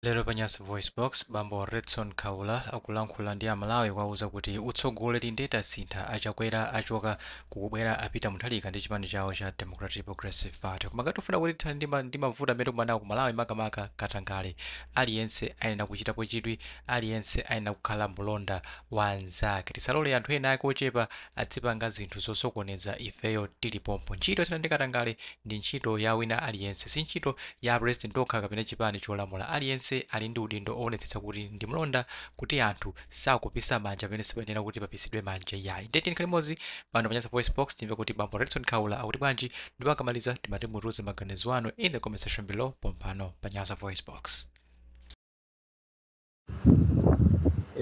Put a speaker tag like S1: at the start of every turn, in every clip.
S1: Lero pa Nyasa VoiceBox, bambo Redson Kaula akulankhula ndi a Malawi kuwauza kuti utsogoleri nde tasintha, a Chakwera achoka, kukubwera a Peter Mutharika ndi chipani chawo cha Democratic Progressive Party. Koma ngati tikufuna kuti tithane ndi mavuto amene tikumana nawo ku Malawi makamaka katangale, aliyense ayenera kuchitapo chidwi, aliyense ayenera kukhala mulonda wa anzake. Tisalore anthu ena ake ochepa adzipanga zinthu zosokoneza ifeyo tili pompo. Ntchito yothana ndi katangale ndi ntchito ya wina aliyense, si ntchito ya a president okha kapena chipani cholamula. Aliyense ali ndi udindo owonetsetsa kuti ndi mlonda kuti anthu sakupisa manja pamene sipayenera kuti papisidwe manja iyayi. Ndiye tiyeni tikhale limodzi pano pa Nyasa VoiceBox timve kuti bambo Redson Kaula akuti bwanji ndipo akamaliza timati mutiuze maganizo anu in the comment section below pompano pa Nyasa VoiceBox.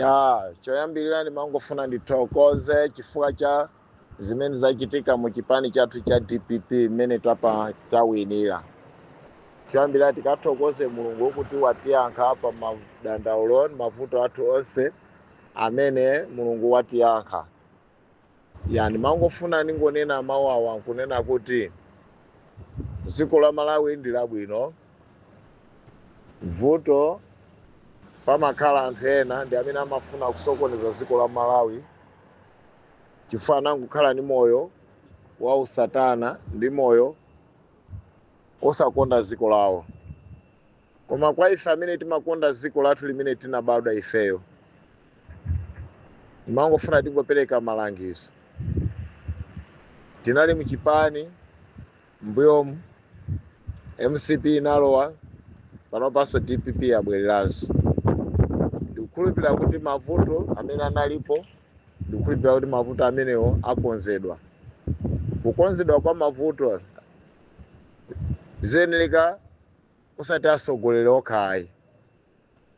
S2: ya choyambirira ndimangofuna ndithokoze chifukwa cha zimene zachitika mu chipani chathu cha dpp mmene tawinira choyambirira tikathokoze mulungu kuti watiyankha pa madandaulo mavuto athu onse amene mulungu watiyankha Ya, ndimangofuna ndingonena mau awa nkunena kuti dziko la Malawi ndi labwino. Vuto pamakhala anthu ena ndi amene amafuna kusokoneza dziko la Malawi chifukwa anangokhala ndi moyo wa usatana ndi moyo osakonda dziko lawo. Koma kwa ife amene timakonda dziko lathu limene tinabadwa ifeyo, ndimangofuna tingopereka malangizo. Tinali mu chipani mbuyomu, mcp inalowa, panopanso dpp yabwereranso. Ndikukhulupirira kuti mavuto amene analipo, ndikukhulupirira kuti mavuto amenewo akonzedwa. Kukonzedwa kwa mavuto ziyenereka osati atsogoleri okha ayi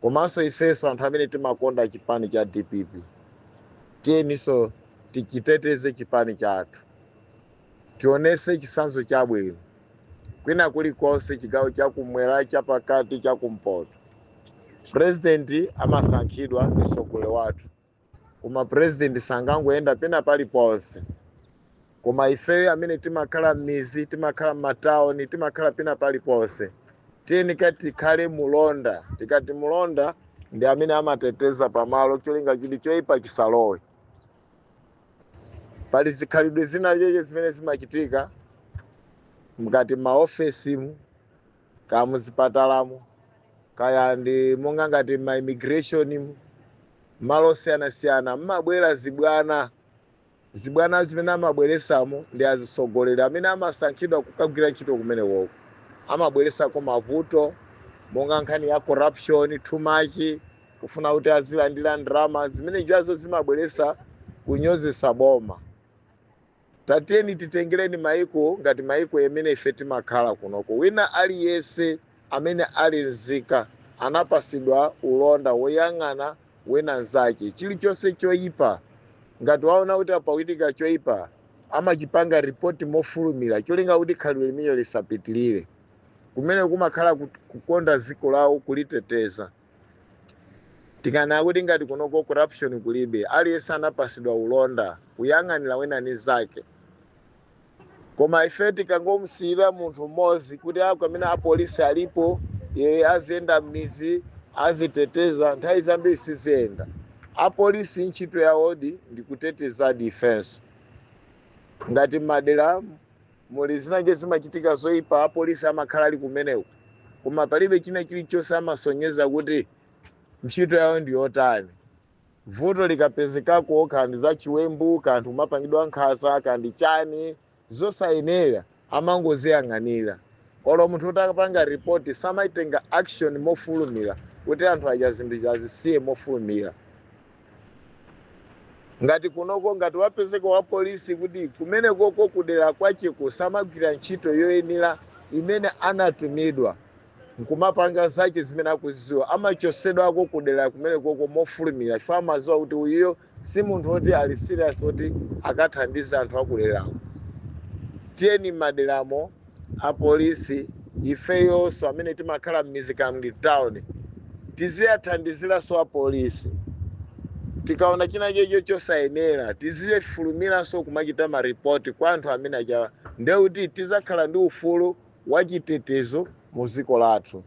S2: komanso ifenso anthu amene timakonda chipani cha dpp tiyeninso tichiteteze chipani chathu tionese chitsanzo chabwino kwina kulikonse chigawo chakumwera chapakati chakumpoto purezidenti amasankhidwa ndi mtsogoleri wathu koma president sangangoyenda pena paliponse koma ifeyo amene timakhala m'mizi timakhala m'matawuni timakhala pena paliponse tiyenika tikhale mulonda tikati mulonda ndi amene amateteza pamalo cholinga chili choyipa chisalowe pali zikhalidwe zina cheche zimene zimachitika mkati maofesimu kaya muzipatalamu, kaya ndi monga ngati ma immigration, malo osiyanasiyana mmabwera zibwana. Zibwana zimene amabweresamo ndi azitsogoleri amene amasankhidwa kukagwira ntchito kumenekoko. Amabweresako mavuto monga nkhani ya corruption too much, kufuna kuti azilandira ndalama, zimene zijazo zimabweresa kunyozesa boma. Tatiyeni titengeleni maiko ngati maiko amene ife timakhala kunoko. Wina aliyense amene ali nzika anapasidwa ulonda woyang'ana wina nzache. Chilichonse choipa, ngati waona kuti apa pakuitika choipa, amachipanga report mofulumila cholinga kuti khalidwe limenelo lisapitilile. Kumeneko kumakhala kukonda ziko lawo kuliteteza. Tikanena kuti ngati kunoko corruption kulibe, aliyense anapasidwa ulonda, kuyang'anila wina mnzake. Koma ife tikangomusiyila munthu m'modzi kuti akamene a police alipo, yeye aziyenda m'midzi, aziteteza, nthawi zambiri siziyenda. A police nchito yawodi ndi kutetezadi ifenso. Ngati m'madelamu. Muli zinaje zimachitika zoipa apolisi amakhala ali kumeneko koma palibe china chilichonse amasonyeza kuti ntchito yawo ndi yotani. Vuto likapezekako kaya ndi zachiwembu kaya anthu kumapangidwa nkhanza kaya ndi chani zosayenera amangoziyang'anira olo munthu kuti akapanga report samaitenga action mofulumira kuti anthu aja zinthu zija azisiye mofulumira. Ngati kunoko ngati wapezeka wa police kuti kumenekoko kudera kwacheko samagwira ntchito yoyenera imene anatumidwa nkumapanga zache zimene akuziziwa amachosedwako kudera kumenekoko mofulumira chifukwa amaziwa kuti uyuyo si munthu oti ali serious oti akathandize anthu akuderako. Tiyeni mmaderamo a police ifeyonso amene timakhala mmizi kaya muli town tiziathandizilanso a police tikaona china chache cho chosayenela tizifulumilanso kumachita ma report kwa anthu amene ajawa ndekuti tizakhala ndi ufulu wachitetezo muziko lathu.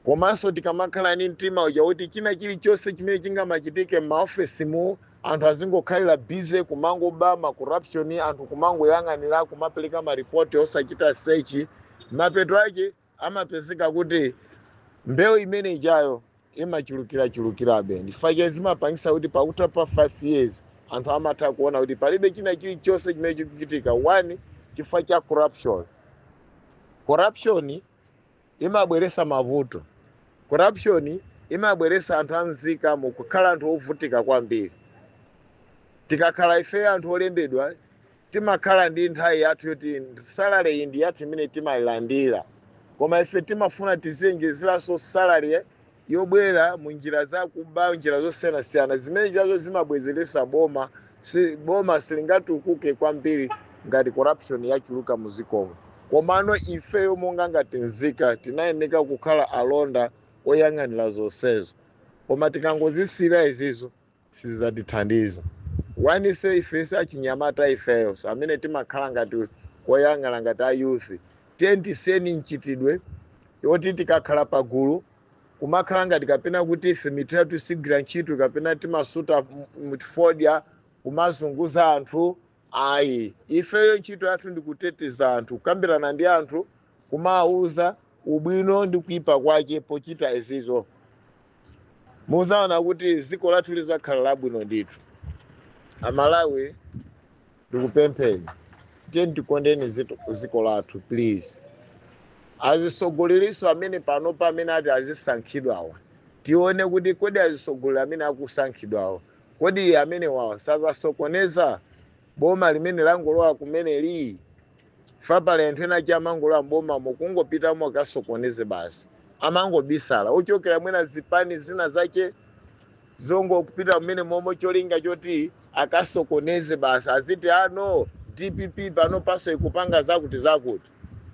S2: Komanso tikamakhala ndi mtima uja kuti china chilichonse chimene chingamachitike m'maofesimu anthu azingokhalira busy kumangoba, ma corruption, anthu kumangoyang'anira, kumapereka ma report osachita search, mapeto ake amapezeka kuti mbewu imene ijayo imachulukirachulukirabe. N'chifukwa chake zimapangitsa kuti pakutha pa 5 years anthu amatha kuona kuti palibe china chilichonse chimene chikuchitika, one, chifukwa cha corruption. Corruption. imabweresa mavuto. Corruption imabweresa anthu anzika mu kukhala anthu ovutika kwambiri. Tikakhala ife anthu olembedwa timakhala ndi nthawi yathu yoti salary iyi ndi yathu imene timayilandira. Koma ife timafuna tiziwonjezeranso salary yobwera mu njira zakuba njira zosiyanasiyana zimene chazo zimabwezeresa boma si boma silingatukuke kwambiri ngati corruption yachuluka muzikomo komano ifeyo monga ngati nzika tinayeneka kukhala alonda oyang'anira zonsezo koma tikangozisiyira izizo sizatithandiza onse ifeso achinyamata ifeyoso amene timakhala ngati oyang'ana ngati a youth tiyeni tisiyeni mchitidwe yoti tikakhala pagulu kumakhala ngati kapena kuti ife mitu yathu sigwira ntchito kapena timasuta m- m- fodya kumazunguza anthu Ayi. Ifeyo ntchito yathu ndi kuteteza anthu, kukambirana ndi anthu, kumawauza ubwino ndi kuipa kwache pochita izizo. Muzaona kuti ziko lathu lizakhala labwino ndithu. A Malawi ndikupempheni tiyeni tikondeni ziko lathu please. Azisogoleriso amene panopa amene ati azisankhidwawa tione kuti kodi azisogoleri amene akusankhidwawa Kodi amenewawa sazasokoneza boma limene langolowa kumeneli? Chifukwa pali anthu ena ache amangolowa m'bomamo kungopitamo akasokoneze basi. Amangobisala. Ochokera mwina zipani zina zache zongopita mmenemomo cholinga choti akasokoneze basi. Aziti a no, dpp panopaso ikupanga zakuti zakuti.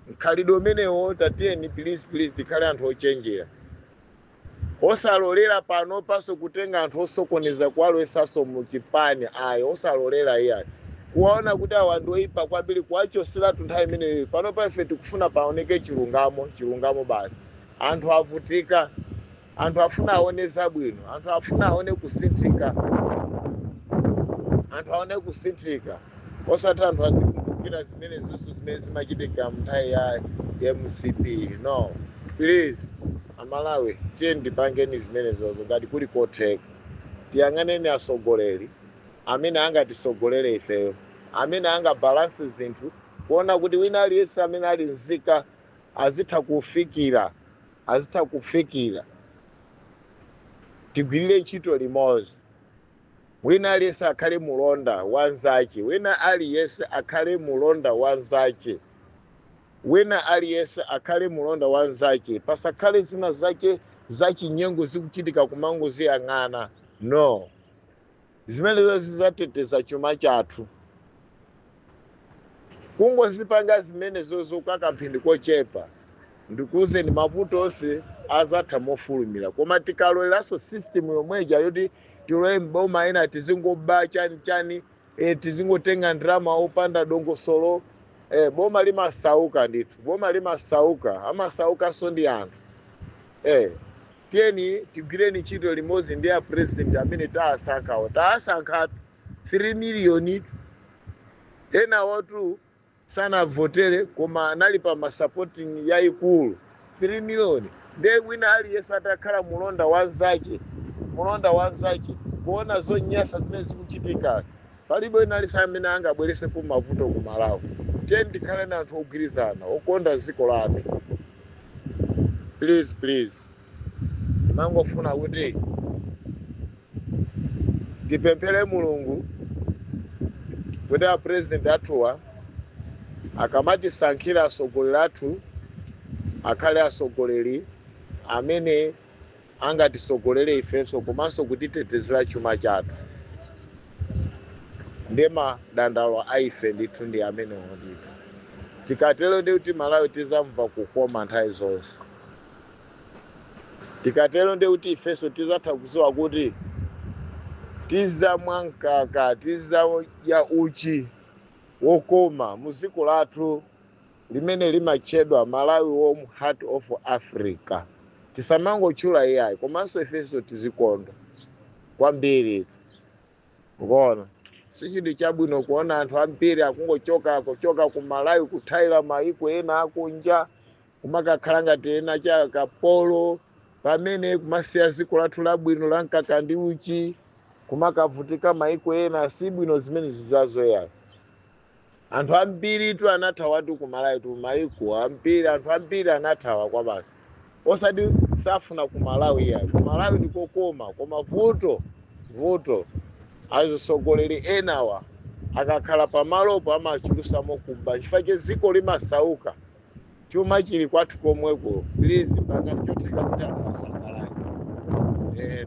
S2: Mkhalidwe umenewo tatiyeni pilizi pilizi tikhale anthu ochenjera. Osalolera panopanso kutenga anthu osokoneza kuwalowesanso mu chipani ayi osalolera iyayi. Kuwaona kuti awa ndi oyipa kwambiri kuwachoseratu nthawi imeneyo. Panopa ife tikufuna paoneke chilungamo, chilungamo basi. Anthu avutika, anthu afuna aone zabwino, anthu afuna aone kusinthika, anthu aone kusinthika. osati anthu azikumbukira zimene zonse zimene zimachitika mnthawi ya mcp no please amalawi tiyeni tipangeni zimenezozo ngati kuli kotheka tiyang'aneni asogoleri amene angatisogolere ifeyo amene angabalanse zinthu kuona kuti wina aliyense amene ali nzika azitha kufikira azitha kufikira tigwirire ntchito limodzi Wina aliyense akhale mulonda wa mnzace, wina aliyense akhale mulonda wa mnzace, wina aliyense akhale mulonda wa mnzace, pasakhale zina zace za cinyengo zikucitika kumangoziyang'ana, no. Zimenezo zizateteza cuma cathu. Kungozipanga zimenezozo kwa kamphindi kochepa ndikuuzeni mavuto onse azatha mofulumira koma tikalolelanso system yomwe ija yoti tilowe m'boma ena tizingoba chani chani eh, tizingotenga ndalama opanda dongosolo eh, boma limasauka ndithu boma limasauka amasaukanso ndi anthu eh, tiyeni tigwireni ntchito limodzi ndi a president amene taasankhawo taasankhatu 3 miliyonitu. Enawotu sanavotere koma anali pa ma supporting yaikulu 3 miliyoni. Ndiye wina aliyense atakhala mulonda wa nzache, mulonda wa nzache kuona zonyasa zimene zikuchitika. Palibe wina aliyense amene angabweresepo mavuto ku Malawi. Tiyeni tikhaleni anthu ogwirizana, okonda ziko lathu. Please please. ndimangofuna kuti tipemphere mulungu kuti a president athuwa akamatisankhira atsogoleri athu akhale atsogoleri amene angatitsogolere ifenso komanso kutitetezera chuma chathu ndi madandaulo a ife ndithu ndi amenewo ndithu tikatero ndiye kuti malawi tizamva kukoma nthawi zonse Tikatero ndiye kuti ifenso tizatha kuziwa kuti tizamwa mkaka, tizadya uchi wokoma muziko lathu limene limatchedwa Malawi warm heart of Africa. Tisamangotchula iyayi komanso ifenso tizikonda kwambiri mukuona. Sichinthu chabwino kuona anthu ambiri akungochoka kuchoka ku Malawi kuthawira mayiko ena akunja kumakakhala ngati ena cha akapolo pamene kumasiya dziko lathu labwino la mkaka ndi uchi kumakavutika maiko ena si bwino zimenezo iyayi anthu ambiritu anathawatu kumalawitu maiko ambiri anthu ambiri anathawako basi osati safuna kumalawi yayi kumalawi ndikokoma koma vuto vuto azisogoleri enawa akakhala pamalopo amachulusamo kuba chifukwa che dziko limasauka chuma chili kwathu komweko please pangani chotheka kuti anthu asangalale eh.